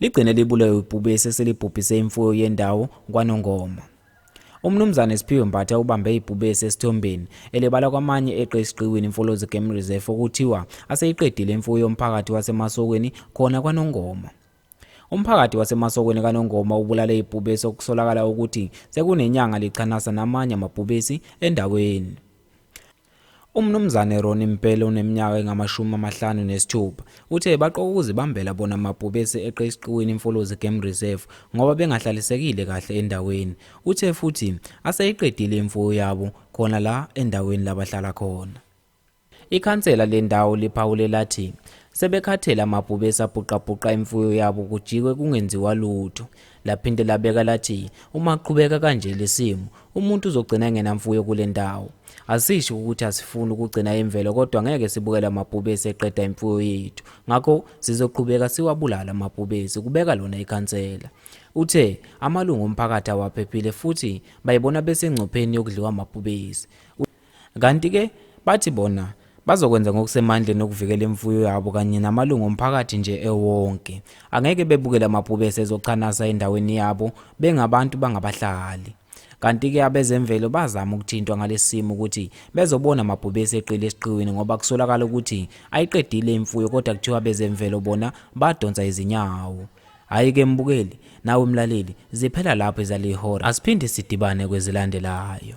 Ligcine libulewe ibhubesi eselibhubhise imfuyo yendawo kwaNongoma. UMnumzane Siphiwe Mbatha ubambe ibhubesi esithombeni elibala kwamanye eqe esiqiwini iMfolozi Game Reserve okuthiwa aseyiqedile imfuyo yomphakathi waseMasokweni khona kwaNongoma. Umphakathi waseMasokweni kaNongoma ubulale ibhubesi okusolakala ukuthi sekunenyanga lichanasa namanye amabhubesi endaweni. UMnumzane Ronnie Mpele oneminyaka engamashumi amahlanu nesithupha uthe baqoka ukuzibambela bona mabhubesi eqe esiqiwini iMfolozi Game Reserve ngoba bengahlalisekile kahle endaweni. Uthe futhi aseyiqedile imfuyo yabo khona la endaweni labahlala khona. Ikhansela lendawo liphawule lathi sebekhathele amabhubesi abhuqabhuqa imfuyo yabo kujikwe kungenziwa lutho. Laphinde labeka lathi uma aqhubeka kanje lesimo umuntu uzogcina engenamfuyo kule ndawo. Asisho ukuthi asifuni ukugcina imvelo kodwa ngeke sibukele amabhubesi eqeda imfuyo yethu. Ngakho sizoqhubeka siwabulala amabhubesi, kubeka lona ikhansela. Uthe amalungu omphakathi awaphephile futhi bayibona besengcupheni yokudliwa amabhubesi. Kanti-ke bathi bona bazokwenza ngokusemandleni okuvikela imfuyo yabo kanye namalungu omphakathi nje ewonke. Angeke bebukele amabhubesi ezochanasa endaweni yabo bengabantu bangabahlali. Kanti-ke abezemvelo bazama ukuthintwa ngalesi simo ukuthi bezobona amabhubesi eqile esiqiwini ngoba kusolakala ukuthi ayiqedile imfuyo kodwa kuthiwa abezemvelo bona badonsa izinyawo. Hhayi-ke mbukeli, nawe mlaleli, ziphela lapho ezalihora. Asiphinde sidibane kwezilandelayo.